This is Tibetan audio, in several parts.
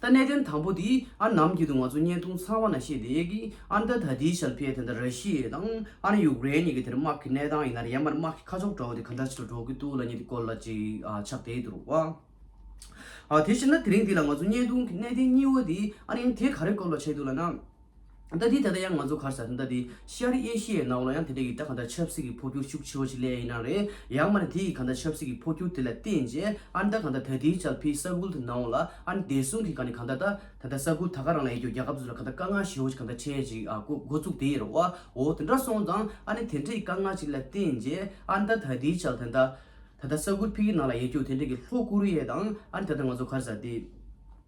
ད་གནད་དོན་དང་པོ་དེ་ཨ་ནམ་རྒྱུད་དུ་ང་ཚོ་བརྙན་ཐུང་ཚང་བ་ན་ཤེས་བསྡད་ཀི་ཨ་མདའ་ད་དེའི་ཞལ་ཕེ་དེ་འདྲ་ར་ཤི་ཡེ་དང་ཨ་རི་ཡུག་རེན་གཉིས་ཀྱི་དེར་དམག་གི་གནས་སྟངས་ཡིན་ན་ར་ཡར་མར་དམག་གི་ཁ་ཕྱོགས་དྲ་བོ་དེ་ག་འདྲ་ཆེ་དྲ་འགྲོ་གི་འདུག་ལ་གཉིས་དེ་སྐོར་ལ་ཅིག་ཕྱག་བསྟད་ཡོད་རུང་བ། དེ་བྱས་ན་དེ་རིང་འདི་ལ་ང་ཚོ་བརྙན་ཐུང་གི་གནད་དོན་གཉིས་བོ་དེ་ཨ་རིན་དེ་ག་རེ་སྐོར་ལ་བྱས་འདུག་ལ་ན། རྟ་དེའི་ད་ལྟ་ཡང་ང་ཚོ་གར་ས་རྟ་དེ་ཤར་ཨེ་ཤི་ཡའི་ནང་ལ་ཡང་དེ་འདྲ་གི་རྟ་གང་འདྲ་ཆབ་སྲིད་ཀྱི་འཕོ་འགྱུར་ཤུགས་ཆེ་བ་ཞིག་སླེ་ཡ་ཡིན་ན་རེད་ཡང་མ་རེད་དེ་ཡི་གང་འདྲ་ཆབ་སྲིད་ཀྱི་འཕོ་འགྱུར་དེ་ལ་བརྟེན་རྗེས་ཨ་ནི་རྟ་གང་འདྲ་ད་དེའི་ཅལ་ཕི་ས་ཁུལ་དུ་ནང་ལ་ཨ་ནི་བདེ་སྲུང་གི་གང་ནི་གང་འདྲ་ད་ད་ད་ས་ཁུལ་ད་ག་རང་ལ་ཡི་རྒྱུ་རྒྱ་གབ་ཚུལ་ལ་གང་འདྲ་དཀའ་ངལ་ཞེ་བོ་ཞིག་གང་འདྲ་འཕྲད་ཅིག་ཨ་ཁུ་འགོ་ཚུགས་དེ་ཡི་རོ་བ་འོ་དེ་འདྲ་སོང་ཙང་ཨ་ནི་དེ་འདྲ་ཡི་དཀའ་ངལ་ཅིག་ལ་བརྟེན་རྗེས་ཨ་ནི་ད་ད་དེའི་ཅལ་དེ་འདྲ་ད་ད་ས་ཁུལ་ཕི་གི་ནང་ལ་ཡི་རྒྱུ་དེ་འདྲ་གི་ལྷོ་ཀོ་རི་ཡའི་དང་ཨ་ནི་ད་ད་ང་ཚོ་གར་ས་དེ།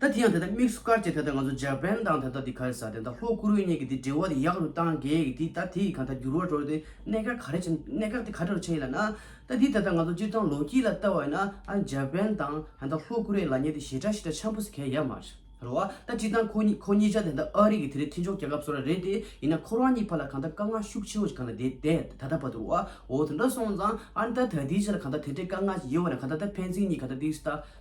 ད་དེ་ཡང་དེ་ལྟར་དམིགས་སུ་བཀར་གྱི་དེ་ལྟར་ང་ཚོ་འཇར་པན་དང་དེ་ལྟར་དེ་ག་རེ་ཟ་དེ་ལྟར་ལྷོ་ཀོ་རུའི་གཉིས་ཀྱི་དེ་འབྲེལ་བ་དེ་ཡག་རུ་གཏང་གི་གི་དེ་ད་དེ་ཡི་ག་ད་འགྱུར་བ་འགྲོ་དེ་གནད་འགག་ག་རེ་བྱེད་གནད་འགག་དེ་ག་དྲོ་རུ་ཆེ་ཡིན་ལ་ན། ད་དེ་ད་ལྟ་ང་ཚོ་སྤྱིར་བཏང་ལོ་རྒྱུས་ལ་བལྟ་བ་ཡིན་ན་ཨ་འཇར་པན་དང་དེ་ལྟར་ལྷོ་ཀོ་རེ་ལ་ཉེ་དེ་ཞེ་དྲག་ཞེ་དྲག་འཆམ་པོ་ཟེར་མཁན་ཡ་མ་རེད་བ་ད་སྤྱིར་བཏང་ཁོ་གཉིས་ཁོ་གཉིས་ཅག་དེ་ལྟར་ཨ་རི་གི་དེ་རེ་མཐུན་ཕྱོགས་རྒྱལ་ཁབ་བཟོ་ར་རེད་དེ་ཡིན་ན་ཁོ་རང་གཉིས་བར་ལ་གང་ད་དཀའ་ངལ་ཤུགས་ཆེན་བོ་ཞིག་གང་ད་དེ་དེ་ད་ད་བ་དུ་རུ་བ་འོ་དེ་འདྲ་སོང་ཙང་ཨ་ན་ད་ད་དེའི་ཆེད་ལ་གང་ད་དེ་འདྲའི་དཀའ་ངལ་ཞིག་ཡོད་བ་ན་གང་ད་ད་ཕན་ཚུན་གཉིས་ག་ད་དེའི་ལྟ་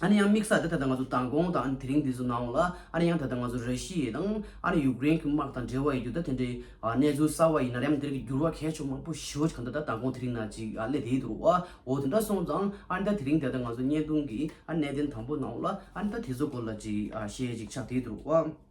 ཨ་ནི་ཡང་དམིགས་ས་དེ་ད་ལྟ་ང་ཚོ་མདང་དགོང་དང་ཨ་ནི་དེ་རིང་འདི་ཚོ་ནང་ལ་ཨ་ནི་ཡང་ད་ལྟ་ང་ཚོ་ར་ཤི་ཡའི་དང་ཨ་ནི་ཡུཀ་རེན་གྱི་དམག་དང་འབྲེལ་བ་ཡོད་རྒྱུ་ད་དེ་འདྲའི་གནས་ཚུལ་གསར་བ་ཡིན་ན་རེའམ་དེ་རིང་གི་འགྱུར་བ་གལ་ཆུང་མང་པོ་ཞི་བ་ཞིག་གམ་ད་ལྟ་མདང་དགོང་དེ་རིང་ན་ཅིག་ཨ་སླེ་དེའི་དུར་བ་འོ་དེ་འདྲ་སོང་ཙང་ཨ་ནི་ད་དེ་རིང་འདི་ད་ལྟ་ང་ཚོ་བརྙན་ཐུང་གི་ཨ་ནི་གནས་བརྟན་དང་པོ་ནང་ལ་ཨ་ནི་ད་དེ་ཚོ་སྐོར་ལ་ཅིག་ཤེས་ཅིག་ཆགས་དེའི་དུར་བ།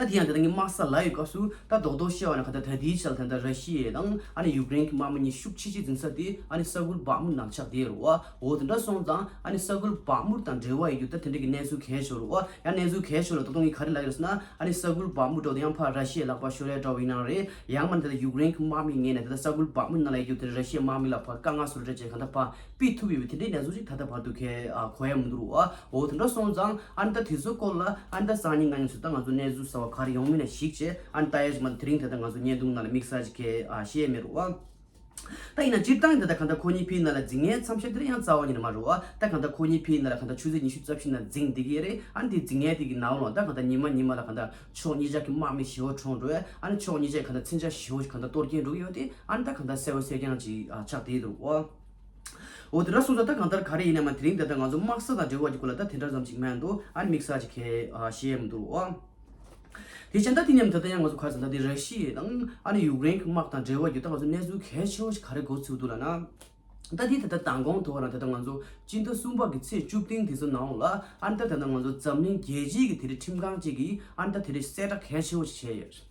ད་དེ་ཡང་དེ་དང་ངའི་དམག་ས་ལ་ཡོད་སྐབས་སུ་ད་རྡོག་རྡོག་བཤད་བ་ནི་ག་ད་ད་ལྟའི་ཆར་དེ་འདྲ་ར་ཤི་ཡའི་དང་ཨ་ནི་ཡུག་ཀེ་རེན་གྱི་དམག་མི་གཉིས་ཤུགས་ཆེ་ཆེ་འཛིན་ས་དེ་ཨ་ནི་ས་ཁུལ་བག་མུར་ནང་ཆགས་བསྡད་རུ་བའོ་དེ་འདྲ་སོང་ཙང་ཨ་ནི་ས་ཁུལ་བག་མུར་དང་འབྲེལ་བ་ཡོད་རྒྱུ་ད་དེ་འདྲ་གི་གནས་ཚུལ་གས་ཆོག་རུ་བ་ཡང་གནས་ཚུལ་གས་ཆོག་ལ་ད་དུང་ངས་ག་རེ་ལབ་ཡོད་ཟེར་ན་ཨ་ནི་ས་ཁུལ་བག་མུར་འགྲོ་དེ་ཡང་ཕར་ར་ཤི་ཡས་ལག་པ་ཤོར་ཡ་འདྲ་བ་ཡིན་ན་རེད་ཡང་མ་ནི་ད་ཡུག་རེན་གྱི་དམག་མི་ངས་ནས་ད་ས་ཁུལ་བག་མུར་ནང་ལ་ཡོད་རྒྱུ་དེ་ར་ཤི་ཡའི་དམག་མི་ལ་ཕ་དཀའ་ངལ་སུ་རུ་འཕྲད་ཅེས་ག་ད་ཕ་པི་ཐུབ་ཡོད་པས་དེ་འདྲའི་ཡ་གཟུགས་ཤིག་ད་ལྟ་བར་དུ་ཁའི་གོ་ཡ་མི་འདུག་རོ། འོ་དེ་འདྲ་སོང་ཙང་ཨ་མདའ་དེ་ཚོའི་སྐོར་ལ་ཨ་མདའ་སང་ཉིན་ང་ཉིད་ཚོད་ལྟ་ང་ཚོ་གནས་ཚུལ་གསལ་བ་ག་རེ་ཡོང་མིན་ལ་གཞིགས་ཅེས་ཨ་མདའ་ཨེ་ཟེར་མ་ད་དེ་རིང་ད་ལྟ་ང་ཚོ་བརྙན་ཐུང་ནང་ལ་དམིགས་བསལ་གྱི་ཁའི་ཤེས་ཡས་མེད་རོ། ད་ཡིན་ན་སྤྱིར་བཏང་གི་ད་ལྟ་གང་ལྟར་ཁོ་གཉིས་ཕི་ཡི་ནང་ལ་འཛིང་ངའི་མཚམས་ཤར་དེ་རིང་ཡང་རྩ་བ་ཉིད་ནས་མ་རོ། ད་གང་ལྟར་ཁོ་གཉིས་ཕི་ཡི་ནང་ལ་གང་ལྟར་ཆུ་ཚོད་ཉི་ཤུ་རྩ་བཞི་ནང་འཛིང་བསྡད་ཀྱི་ཡོད་རེད་ཨ་ནི་དེ་འཛིང་ངའི་དེ་གི་ནའོ་ལོང་ད་གང་ལྟར་ཉི་མ་ཉི་མ་ལ་གང་ལྟར་ཕྱོགས་གཉིས་ཅག་གི་དམག་མི་ཞེ་བོ་གྲོངས་འགྲོ་བས་ཨ་ནི་ཕྱོགས་གཉིས་ཅག་གི་གང་ལྟར་འཚེམ་བྱ་ཞེ་བོ་ཞིག་གང་ལྟར་གཏོར་གྱིན་འགྲོ་གི་ཡོད་དེ་ཨ་ནི་ད་གང་ལྟར་གསལ་བོ་གསལ་རྐྱང་ཅིག་ཆགས་བསྡད་ཡོད་རོ། འོ་དེ་འདྲ་གསུངས་ས་ད་གང་ལྟར་ག་རེ་ཡིན་ནས་མ་དེ་རིང་འདི་ལྟར་ང་ཚོ་དམག་ས་དང་འབྲེལ་བ་ཀྱི་སྐོར་ལ་ད་དེ་འདྲ་ཙམ་ཞིག་སྨྲས་འདུག་ཨ་ནི་མིག་ཟ་ཅིག་གས་བཤད་མི་འདུག་ཨོ། དེ་བྱས་ན་ད་དེ་སྙམ་ད་ལྟ་ཡང་ང་ཚོ་ག་ཚོད་ད་དེ་ར་ཤི་ཡའི་དང་ཨ་ནི་ཡུཀ་རེན་གྱི་དམག་དང་འབྲེལ་བ་བརྒྱུད་ད་ང་ཚོ་གནས་ཚུལ་གལ་ཆེ་བོ་ཞིག་ག་རེ་གོ་ཚུལ་འདུག་ལ་ན། ད་དེ་ད་ལྟ་མདང་དགོང་དུ་བ་རང་དེ་ལྟར་ང་ཚོ་སྤྱི་ཟླ་གསུམ་པ་ཀྱི་ཚེས་བཅུ་བདུན་དེ་ཚོ་ནའོ་ལ་ཨ་ནི་ད་ད་ལྟ་ང་ཚོ་འཛམ་གླིང་རྒྱལ་སྤྱིའི་གི་དེ་རི་ཁྲིམས་ཁང་ཅིག་གིས་ཨ་ནི་ད་དེ་རི་གསལ་བསྒྲགས་གལ་ཆེ་བོ་ཞིག་བྱས་ཡོད།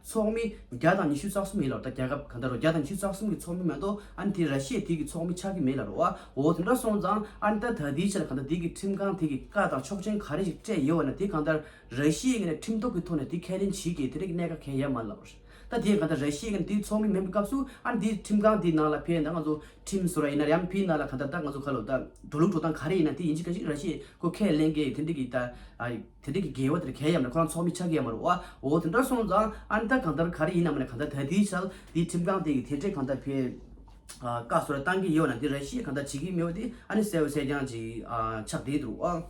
ཚོགས་མི་བརྒྱ་དང་ཉི་ཤུ་རྩ་གསུམ་ཡིན་ལ་རོ་ད་རྒྱ་ཁབ་གང་དར་རོ་བརྒྱ་དང་ཉི་ཤུ་རྩ་གསུམ་གི་ཚོགས་མི་མེད་དོ་ཨ་ནི་དེ་ར་ཤི་ཡའི་དེ་གི་ཚོགས་མི་ཆགས་ཀི་མེད་ལ་རོ་ཨོའོ་དེ་འདྲ་སོང་ཙང་ཨ་ནི་ད་ད་དེའི་ཆེད་ལ་གང་དར་དེ་གི་ཁྲིམས་ཁང་དེ་གི་བཀའ་དང་ཆོག་མཆན་ག་རེ་ཞིག་སྤྲད་ཡོད་བ་ན་དེ་གང་དར་ར་ཤི་ཡའི་ངེས་ནས་ཁྲིམས་ཐོག་གི་ཐོག་ནས་དེ་ཁས་ལེན་བྱེད་ཀི་དེ་ར་གི་གནད་ཀ་གས་ཡ་མ་ལ་རོ། ད་དེ་གང་དར་ར་ཤི་ཡའི་ངེས་ནས་དེ་གི་ཚོགས་མི་མེད་པའི་སྐབས་སུ་ཨ་ནི་དེ་ཁྲིམས་ཁང་དེ་ནང་ལ་ཕེ་ན་ང་ཚོ་ཁྲིམས་བཟོ་ར་ཡིན་ན་ར་ཡམ་ཕི་ན་ལ་གང་དར་ད་ང་ཚོ་ག་ལོ་ད་འགྲོ་ལུགས་འགྲོ་སྟངས་ག་རེ་ཡིན་ན་དེ་ཡིན་གི་ག་ཞིག་ར་ཤི་ཡའི་ཁོ་ཁས་ལེན་གི་དེ་འདྲ་གི་ད་དེ་དག་གི་དགེ་བ་དེར་གལ་ཡམ་ལ་ཁོ་རང་ཚོགས་མི་ཆགས་ཀྱི་ཡ་མ་རུ་བའོ། དེ་འདྲར་སོང་ཙང་ཨ་མདའ་གང་ལྟར་ག་རེ་ཡིན་ནམ་ནས་གང་ལྟར་ད་དེའི་ཆར་དེའི་ཁྲིམས་ཁང་སྟེང་གི་དེ་འདྲས་གང་ལྟར་བེད་ཀ་སོ་ར་བཏང་གི་ཡོད་ན་དེ་ར་ཤེས་གང་ལྟར་བྱེད་ཀྱི་མེད་བ་དེ་ཨ་ནི་གསལ་བོ་གསལ་རྐྱང་ཅིག་ཆགས་བསྡད་འདུག་བ།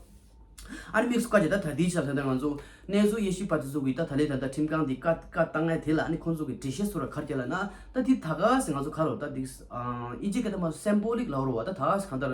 ཨ་ནི་དམིགས་སུ་བཀའ་བྱས་ད་ད་དེའི་ཆར་ད་ད་ང་ཚོ་གནས་ཚུལ་དབྱེ་ཞིབ་པ་དེ་ཚོ་གིས་ད་ད་ལས་ད་ད་ཁྲིམས་ཁང་དེ་ཀ་ཀ་ལྟ་ངའི་དེ་ལ་ཨ་ནི་ཁོང་ཚོ་གི་འགྲེལ་བཤད་སོ་ར་གར་བསྐྱལ་ལ་ན་ད་དེ་ད་ག་ཟེ་ང་ཚོ་ག་རོ་ད་དེ་ཨིན་ཇི་སྐད་ད་མ་སེམས་པོ་ལེགས་ལའོ་རུ་བ་ད་ད་ག་ཟེ་གང་ལྟར་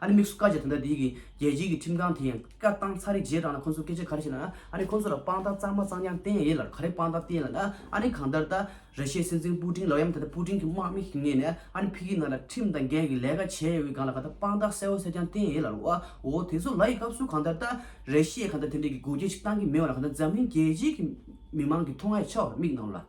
ཨ་རིས་དམིགས་སུ་བཀའ་བཅད་དེ་འདྲ་དེ་གི་རྒྱལ་སྤྱིའི་གི་ཁྲིམས་ཁང་དེ་ཡང་བཀའ་བཏང་ཚར་རིགས་རྗེས་འབྲང་ན་ཁོང་ཚོ་སྐད་ཆ་ག་རེ་བཤད་ན་ཨ་རིས་ཁོང་ཚོ་ལ་དཔང་རྟགས་གཙང་མ་གཙང་རྐྱང་བསྟན་ཡས་ལར་ག་རེ་དཔང་རྟགས་བསྟན་ཡས་ལ་ཨ་རིས་གང་ལྟར་ད་རེ་ཤའི་སྲིད་འཛིན་པུ་ཏིན་ལོ་ཡམ་ད་ལྟ་པུ་ཏིན་གི་དམག་མི་ཞིག་ངེས་ནས་ཨ་རིས་ཕི་གིའི་ནང་ལ་ཁྲིམས་དང་འགལ་གི་ལས་ཀ་བྱས་ཡས་འོད་གང་ལ་ག་ད་དཔང་རྟགས་གསལ་བོ་གསལ་རྐྱང་བསྟན་ཡས་ལར་བའོ་དེ་ཚོ་ལ་ཡི་སྐབས་སུ་གང་ལྟར་ད་རེ་ཤའི་གང་ལྟར་དེ་འདྲས་གི་དགོས་འགལ་ཅིག་བཏང་གི་མེད་བ་ལ་ག་ད་འཛམ་གླིང་རྒྱལ་སྤྱིའི་གི་མི་མང་གི་མཐོང་ང་ཡས་ཆ་བ་ལ་དམིགས་གནང་ལ།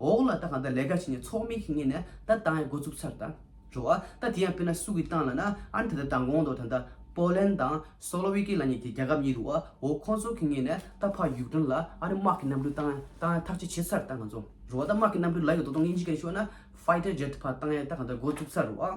འོག་ལ་ད་གང་ད་ལས་ཀ་བྱས་ནས་ཚོགས་མི་ཁེ་ངེས་ནས་ད་ཏང་ཡི་འགོ་བཙུགས་ཚར་ད་འགྲོ་བ་ད་དེ་ཡང་དཔེར་ན་སུ་གི་ཏང་ལ་ན་ཨ་ནི་ད་ད་ད་འགོང་དོ་ད་ད་པོ་ལན་དང་སོ་ལོ་བྷི་ཀི་ལ་ཉེ་ཀི་རྒྱ་གབ་ཉེ་རུ་བ་འོ་ཁོང་ཚོ་ཁེ་ངེས་ནས་ད་ཕ་ཡུག་ཏོན་ལ་ཨ་ནི་དམག་གི་གནམ་གྲུ་ཏང་ཏང་ཡ་ཐག་ཆེ་བྱས་ཚར་ད་ང་ཚོ་འགྲོ་བ་ད་དམག་གི་གནམ་གྲུ་ལ་ཡོད་དོ་དོང་ཡིན་ཅི་ག་རེ་ཤོད་ན Fighter Jet ཕ་ཏང་ཡ་ད་གང་ད་འགོ་བཙུགས་ཚར་རུ་བ།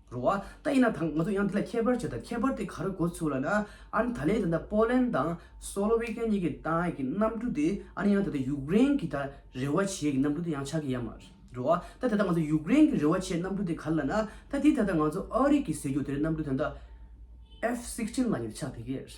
རུ་བ་ད་ཡིན་ན་དང་ང་ཚོ་ཡང་འདི་ལ་ཁྱད་པར་བྱས་དང་ཁྱད་པར་དེ་ག་རུ་གོ་ཚུལ་ལ་ན་ཨཱ་ད་ལན་དེ་འདྲ་པོ་ལན་དང་སོ་ལོ་བྷི་ཀན་གཉིས་ཀྱི་ཏང་ཨའི་གི་གནམ་གྲུ་དེ་ཨཱ་ཡང་དེ་ད་ཡུཀ་རེན་གྱི་ད་རེ་བ་བྱས་གི་གནམ་གྲུ་དེ་ཡང་ཆགས་གི་ཡ་མ་རུ་བ་ད་དེ་ད་ང་ཚོ་ཡུཀ་རེན་གྱི་རེ་བ་བྱས་གནམ་གྲུ་དེ་ག་རུ་ལ་ན་ད་དེ་ད་ད་ང་ཚོ་ཨཱ་རི་ཀི་ཟེར་རྒྱུ་དེ་རེད་གནམ་གྲུ་དེ་ད F-16ལ་ཡང་ཆགས་དེ་གི་རེད།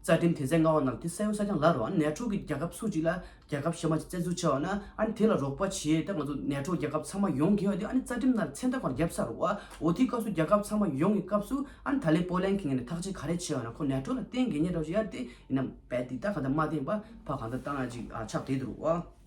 རྩ་ཁྲིམས་དེ་ཚད་མངའ་བ་རྣམས་དེ་གསལ་བོ་གསལ་རྐྱང་ལབ་རོགས་ཨ་ནེ་ཕྲུག་གི་རྒྱལ་ཁབ་སུ་གཅིག་ལ་རྒྱལ་ཁབ་གཞན་མ་གཅིག་བཙན་འཛུལ་བྱས་བ་ན་ཨ་ནེ་དེ་ལ་རོགས་པ་བྱས་ཏེ་ང་ཚོ་ནེ་ཕྲུག་རྒྱལ་ཁབ་ཚང་མ་ཡོང་གི་ཡོད་དེ་ཨ་ནེ་རྩ་ཁྲིམས་ལ་མཚན་རྟགས་པར་རྒྱབ་ས་རོགས་ཨོ་དེའི་སྐབས་སུ་རྒྱལ་ཁབ་ཚང་མ་ཡོང་གི་སྐབས་སུ་ཨ་ནེ་ད་ལེ་པོ་ལན་གི་ངན་ནས་ཐག་ཅི་ག་རེ་བྱས་བ་ན་ཁོ་ནེ་ཕྲུག་ལ་བསྟེན་དགེ་ཉེ་རོགས་ཞིག་ཡར་དེ་ཡིན་ན་བས་དེ་ད་ག་ད་མ་བསྟེན་པ་ཕ་ག་ད་བཏང་ན་ཅིག་ཆགས་བསྡད་དུ་རོགས་ཨ།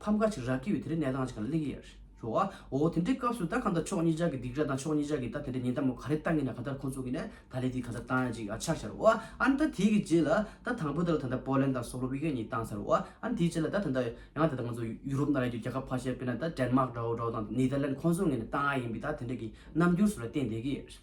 ཕམ་ཁ་ཅིག་རག་གི་ཡོད་དེ་རིང་གནས་སྟངས་ཅིག་ག་ལ་གླེང་གི་ཡོད། ཞོ་ཨ། འོ་དེ་འདྲའི་སྐབས་སུ་ད་གང་ལྟར་ཕྱོགས་གཉིས་ཅག་གི་སྡིག་ར་དང་ཕྱོགས་གཉིས་ཅག་གིས་ད་དེ་འདྲའི་ཉེན་བརྡ་མོ་ག་རེ་བཏང་གི་ན་ག་ལྟར་ཁོང་ཚོ་གིས་ནས་ད་ལས་དེ་ག་ཚར་བཏང་ཡ་ཅིག་ཨ་ཆགས་ཤར་ཨོ། ཨ་ནི་ད་དེའི་གི་རྗེས་ལ་ད་དང་པོ་ད་ལོ་ད་ལྟ་པོ་ལན་དང་སོ་ལོ་བྷི་ཀན་གཉིས་བཏང་ཚར་ཨོ། ཨ་ནི་དེའི་རྗེས་ལ་ད་ད་ལྟ་ཡང་ད་ད་ང་ཚོ་ཡུ་རོབ་ན་རེ་རྒྱུ་རྒྱ་གར་ཕར་ཆེར་དཔེར་ན་ད་ཏྲན་མག་འདྲ་བོ་འདྲ་བོ་དང་ནེ་ལྡར་ལན་ཁོང་ཚོ་ངེས་ནས་བཏང་ཡ་ཡིན་པས་ད་དེ་འདྲ་གི་རྣམ་འགྱུར་སུ་ལ་བསྟན་བསྡད་གི་ཡོད།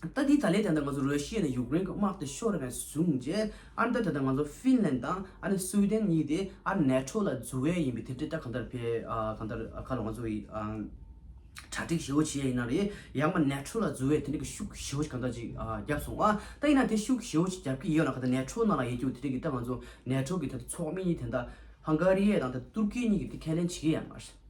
ལྟ་དེའི་ད་ལན་དེ་ལྟར་ང་ཚོ་རོལ་ཤེས་ནས་ཡུཀ་རེན་གྱི་དམག་དེ་ཤོར་བའི་བཟུང་རྗེས་ཨ་མདོ་དེ་དང་ང་ཚོ་ཧྥིན་ལན་དང་ཨ་ནི་སུའུ་ཏན་གཉིས་དེ་ཨ་ནེ་ཁྲོ་ལ་འཛུལ་བས་ཡིན་པའི་དེ་འབྲེལ་ལྟ་གང་ལྟར་ཕེ་གང་ལྟར་ཁ་ལོ་ང་ཚོ་གྲ་སྒྲིག་ཞེ་བོ་བྱེད་ཡས་ཡིན་ན་རེད་ཡང་མ་ནེ་ཁྲོ་ལ་འཛུལ་བས་དེ་འབྲེལ་གྱི་ཤུགས་ཞེ་བོ་ཞིག་གང་ལྟར་ཅིག་བརྒྱབ་སོང་ཨ་ད་ཡིན་ན་དེ་ཤུགས་ཞེ་བོ་ཅིག་བརྒྱབ་ཀྱི་ཡོད་ན་ག་ད་ནེ་ཁྲོ་ནང་ལ་ཡེད་རྒྱུ་དེ་འབྲེལ་གྱི་ལྟ་ང་ཚོ་ནེ་ཁྲོ་གྱི་ད་ཚོགས་མི་གཉིས་དེ་ད་ཧང་ག་རི་ཡས་དང་ད་ཏུར་ཀི་གཉིས་ཀྱིས་དེ་ཁས་ལེན་བྱེད་ཀྱི་ཡ་མ་རེད།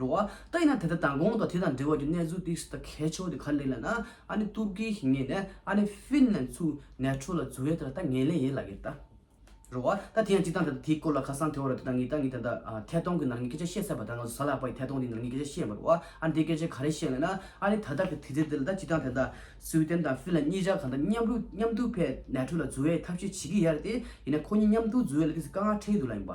རུང་བ། ད་ཡིན་ན་དེ་ལྟར་དང་གོང་དང་དེ་དང་འབྲེལ་བ་ཀྱི་གནས་ཚུལ་སྟེགས་སུ་ད་ཁས་ཆོག་དེ་ག་ལེ་ལ་ན་ཨ་ནི་ཏུར་ཀིའི་ཞིང་ངེས་ནས་ཨ་ནི་ཧྥིན་ལན་ཚུ་ནས་ཁྲོ་ལ་རྫུ་བའི་དེ་ལ་ད་ངེས་ལེ་ཡེ་ལ་གིར་ད། རུང་བ། ད་དེ་ཡང་སྤྱི་དང་དེ་དང་དེའི་སྐོར་ལ་ཁ་སང་དེ་བ་རུ་དེ་དང་ངེས་ད་ངེས་ད་ད་ཐད་གཏོང་གི་ནང་ནས་སྐད་ཆ་བཤད་ཚར་བ་དང་ང་ཚོ་ས་ལ་པ་ཡི་ཐད་གཏོང་དེ་ནང་ནས་སྐད་ཆ་བཤད་མ་རུང་བ་ཨ་ནི་དེ་སྐད་ཆ་ག་རེ་བཤད་ལེ་ན་ཨ་ནི་ད་ད་གི་དུས་ཚེ་དེ་ལ་ད་སྤྱི་དང་དེ་ད་སུའུ་ཏན་དང་ཧྥིན་ལན་གཉིས་ཆ་གང་ད་མཉམ་རུ་མཉམ་དུ་ཕེ་ནས་ཁྲོ་ལ་རྫུ་བའི་ཐབས་ཤེས་བྱེད་ཀི་ཡ་རེད་དེ་ཡིན་ན་ཁོ་གཉིས་མཉམ་དུ་རྫུ་བའི་ལ་ཁིས་ག་ང་ཁྲེལ་གི་འདུག་ལ་ཡིན་པ་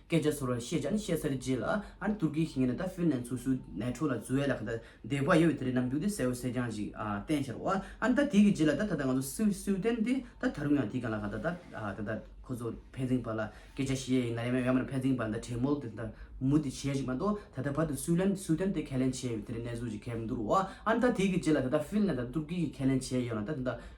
སྐད་ཆ་ཚོར་བར་བཤད་ཀྱང་བཤད་སར་བརྗེད་ལ། ཨ་རི་ཏུར་ཀིའི་ཞིང་ངེས་ནས་ད་ཧྥིན་ལན་སོ་སོའི་ནས་ཁྲོ་ལ་རྫུ་ཡ་ལ་ཁ་ད་འདེགས་པ་ཡོད་བས་དེ་རིགས་ནམ་རྒྱུག་དེ་གསལ་བོ་གསལ་རྐྱང་ཞིག་བསྟན་ཤར་བ། ཨ་ད་དེ་གི་རྗེས་ལ་ད་ད་ད་ང་ཚོ་སུའུ་སུའུ་ཏན་དེ་ད་ད་རུང་ཡང་དེ་གང་ལ་ཁ་ད་ད་ད་ད་ཁོ་ཚོ་ཕན་ཚིན་པ་ལ་སྐད་ཆ་བཤད་ཡ་ཡིན་ན་ཡང་ཡང་མེད་ན་ཕན་ཚིན་པ་ད་བྲེལ་མོལ་དེ་ད་མུ་དེ་བྱས་ཞིག་མ་གཏོགས་ད་ད་བར་དུ་སུའུ་ལན་སུའུ་ཏན་དེ་ཁས་ལེན་བྱས་ཡོད་བས་དེ་རིགས་གནས་ཚུལ་ཅིག་གས་མི་འདུག་རོ། ཨ་ད་དེ་གི་རྗེས་ལ་ད་ད་ཧྥིན་ལན་ད་ད་ཏུར་ཀི་གིས་ཁས་ལེན་བྱས་ཡོད་ན་ད་ད་ད།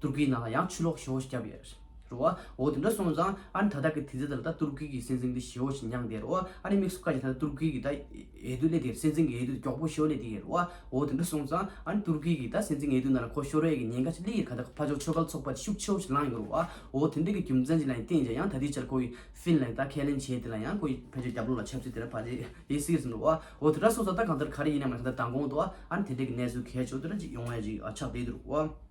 ཏུར་ཀིའི་ནང་ལ་ཡང་ཆུ་ལོག་ཞི་བོ་ཞིག་བསྐྱབས་ཡོད་རེད་འོ། འོ་དེ་འདྲ་སོང་ཙང་ཨ་ནི་ད་ལྟ་གི་དུས་ཚོད་འདི་ལ་ད་ཏུར་ཀི་གི་སྲིད་འཛིན་འདི་ཞི་བོ་ཞིག་མྱངས་བསྡད་རེད་འོ་ཨ་ནི་མིག་ཟུང་བཀག་ཅིང་ད་ལྟ་ཏུར་ཀི་གི་ད་འོས་བསྡུ་སླེབས་བསྡད་རེད་སྲིད་འཛིན་གྱི་འོས་བསྡུ་དེ་མགྱོགས་པོ་ཞུ་བ་སླེབས་བསྡད་རེད་འོ་འོ་དེ་འདྲ་སོང་ཙང་ཨ་ནི་ཏུར་ཀི་གི་ད་སྲིད་འཛིན་འོས་བསྡུ་ནང་ལ་གོ་ཤོར་བའི་ཉེན་ཁ་ཆེ་ལེགས་ཡིན་རེད་ད་ལྟ་ཕ་ཇོ་ཆོས་སྒར་ཚོགས་པ་དེ་ཤུགས་ཆེ་བོ་ཞིག་ལངས་ཡོད་རེད་འོ་འོ་དེ་འདྲ་གི་རྒྱུ་མཚན་ཅིག་ལ་ཡང་བརྟེན་ཅིང་ཡང་ད་ལྟའི་ཆར་ཁོ་བོས་ཧྥིན་ལན་ད་ཁས་ལེན་བྱས་དེ་ལ་ཡང་ཁོ་ཡིས་ཕ་ཇོའི་རྒྱབ་ལོགས་ལ་ཆབ་སྲིད་དེ་འདྲ་ཕ་ཇོས་ཡིན་སྲིད་བསམ་རེད་འོ་འོ་དེ་འདྲ་སོང་ཙང་ད་གང་ལྟར་ག་རེ་ཡིན་ནམ་ཡང་ད་ད་དགོངས་འདུག་ཨ་ནི་དེ་འདྲ་གི་གནས་ཚུལ་གལ་ཆེ་བོ་དེ་འདྲ་ཅིག་ཡོང་བའི་ཆགས་བསྡད་འདུག་རེད་འོ།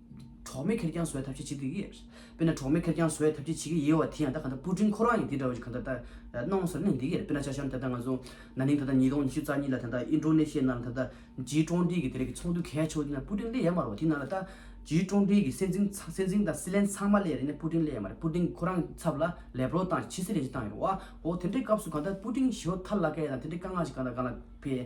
གྲོགས་མེད་ཁེར་རྐྱང་བཟོ་བའི་ཐབས་ཤེས་བྱེད་དགོས་ཀྱི་ཡོད། དཔེར་ན་གྲོགས་མེད་ཁེར་རྐྱང་བཟོ་བའི་ཐབས་ཤེས་བྱེད་ཀྱི་ཡོད་བ་དེ་ཡང་ད་ག་འདྲ་སྤུ་ཀྲིང་ཁོ་རང་གིས་འདི་འདྲ་བ་ཞིག་ག་འདྲ་ལྟར་གནང་ཟེར་ན་འདི་ཡིན་རེད་དཔེར་ན་ཆ་ཤར་ན་ད་ལྟ་ང་ཚོ་ན་ནིང་ད་ལྟ་ཉིས་སྟོང་ཉི་ཤུ་རྩ་གཉིས་ལ་ད་ལྟ་ཨིན་ཀྲོ་ནེ་ཤི་ཡའི་ནང་ལ་ད་ལྟ་ཇིའི་ཀྲོང་ཀྲིའི་གི་དེ་རིང་གི་ཚོགས་འདུ་གལ་ཆེ་བོ་དེ་ནང་སྤུ་ཀྲིང་སླེ་ཡ་མ་རོ་དེ་ནང་ལ་ད་ཇིའི་ཀྲོང་ཀྲིའི་གི་སྲན་འཛིན་ཚང་སྲན་འཛིན་དང་སི་ལན་ཚང་མ་སླེ་ཡ་རེད་ནས་སྤུ་ཀྲིང་སླེ་ཡ་མ་རེད་སྤུ་ཀྲིང་ཁོ་རང་ཚབ་ལ་ལས་པོ་ལོ་བཏང་ཞིང་ཕྱི་སེ་རེ་ཞིག་བཏང་ཡོད་རེད་བ་ཧོ་དེ་འདྲའི་སྐབས་སུ་ག་འདྲ་སྤུ་ཀྲིང་ཞོ་ཐར་ལ་ཀ་ཡ་དང་དེ་འདྲའི་དཀའ་ངག་ཞིག་ག་འདྲ་ག་ལ་ཕེ།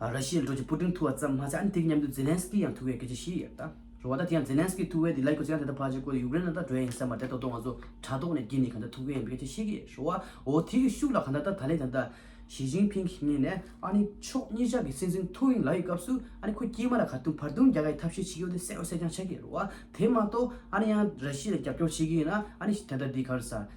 ར་ཤི་ཡའི་འགྲོ་རྒྱུ་པུ་ཏིང་ཐུ་བ་ཙམ་མ་ཟད་ཨ་ནི་ཐེ་གི་མཉམ་དུ་ཛེ་ལན་སི་ཀི་ཡང་ཐུ་བས་སྐད་ཆ་བཤད་ཡོད་ད་རེད་བ་ད་དེ་ཡང་ཛེ་ལན་སི་ཀི་ཐུ་བས་དེ་ལས་ཁྱོད་ཚོ་ཡང་དེ་ལྟར་ཕར་ཆེར་བཀོད་དེ་ཡུཀ་རེན་ལ་ད་འགྲོ་ཡ་ཡིན་ས་མ་རེད་ད་དོ་ང་ཚོ་དྲ་ཐོག་ནས་འགྱིད་ནས་ག་འདྲ་ཐུ་གི་ཡིན་པའི་སྐད་ཆ་བཤད་གི་ཡོད་རེད་བ་འོ་དེ་གི་ཤུགས་ལ་ག་འདྲ་ད་ད་ལན་ད་ད་ཞི་ཅིང་ཕིང་གིས་ངེད་ནས་ཨ་ནི་ཕྱོགས་གཉིས་ཅག་གི་སྲིད་འཛིན་ཐུ་ཡིན་ལ་ཡི་སྐབས་སུ་ཨ་ནི་ཁོ་སྐྱེས་མ་ལ་ག་དུང་བར་དུང་རྒྱག་ག་ཡི་ཐབས་ཤེས་བྱེད་ཀི་ཡོད་དེ་གསལ་བོ་གསལ་རྐྱང་ཆགས་ཀི་ཡོད་རེད་བ་དེ་མ་གཏོགས་ཨ་ནི་ཡང་ར་ཤི་ཡ་ལ་རྒྱབ་སྐྱོར་བྱེད་ཀི་ཡིན་ན་ཨ་ནི་ད་ད་འདི་ག་རེད་ས་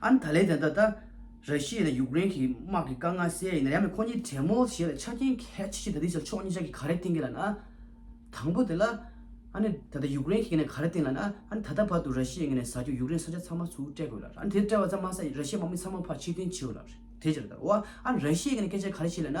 ཨན་ད་ལན་དང་ད་ལྟ་ར་ཤི་ཡའི་དང་ཡུག་རེན་གྱི་དམག་གི་དཀའ་ངལ་སེལ་ཡ་ཡིན་ན་ཡང་མེད་ཁོ་གཉིས་གྲལ་མོལ་བྱེད་ལ་ཆ་རྐྱེན་གལ་ཆེ་ཤོས་ད་དེའི་ཕྱིར་ཕྱོགས་གཉིས་ཅག་གིས་ག་རེ་བསྟེན་གི་ལ་ན། དང་པོ་དེ་ལ། ཨན་ད་ལྟ་ཡུག་རེན་གྱིས་ངས་ག་རེ་བསྟེན་ལ་ན། ཨན་ད་ལྟ་བར་དུ་ར་ཤི་ཡའི་ངས་ནས་ཟ་རྒྱུ་ཡུག་རེན་ས་ཆ་ཚང་མ་ཚུར་སྤྲད་དགོས་ལ་ཨན་དེ་སྤྲད་པ་ཙམ་མ་ཟད་ར་ཤི་ཡའི་དམག་མི་ཚང་མ་ཕར་ཕྱིར་འཐེན་བྱེད་དགོས་ལ། དེའི་ཕྱིར་ད་དུ་ཨན་ར་ཤི་ཡའི་ངས་སྐད་ཆ་ག་རེ་བྱེད་ལ་ན།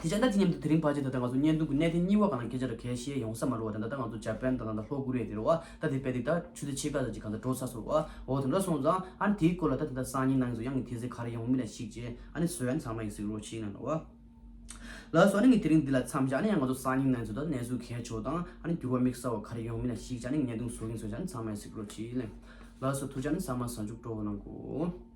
དེ་བྱས་ན་དེ་མཉམ་དུ་དེ་རིང་བར་བྱས་ད་ལྟ་ང་ཚོ་བརྙན་ཐུང་གི་གནད་དེ་གཉིས་བ་གང་སྐད་ཆ་ར་གས་བཤད་ཡོང་ས་མ་རོ་བ་དང་ད་ལྟ་ང་ཚོ་འཇར་པན་དང་ད་ལྷོ་ཀོ་རི་ཡ་དེ་རོ་བ་ད་དེ་པད་དེ་ད་ཆུ་ཚེ་ཕྱེད་ཀ་ཟ་ཅི་གང་ད་འགྲོ་ས་སོ་རོ་བ་འོ་དེ་འདྲ་སོང་ཙང་ཨ་ནི་དེའི་སྐོར་ལ་ད་དེ་ད་སང་ཉིན་ནང་ཟོ་ཡང་ངི་དེ་ཟེ་ག་རེ་ཡོང་མི་ལ་ཤིག་ཅེས་ཨ་ནི་ཟོ་ཡང་ཚང་མ་ཡིག་ཟིག་རོ་ཤིག་ན་རོ་བ་ལ་སོ་ཨ་ནི་ངི་དེ་རིང་འདི་ལ་འཚམ་ཤག་ཨ་ནི་ཡང་ང་ཚོ་སང་ཉིན་ནང་ཟོ་ད་གནས་ཚུལ་གས་ཆོག་དང་ཨ་ནི་འགྱུར་བ་མིག་ས་བ་ག་རེ་ཡོང་མི་ལ་ཤིག་ཅེས་ཨ་ནི་བརྙན་ཐུང་ཟོ་གིན་སོང་ཤག་ཨ་ནི་ཚང་མ་ཡིག་ཟིག་རོ་ཤིག་ལན། ལ་སོ་ཐུགས་རྗེ་ཨ་ནི་ཟ་མ་ཟ་འཇུག་སྤྲོ་བོ་གནང་གོ།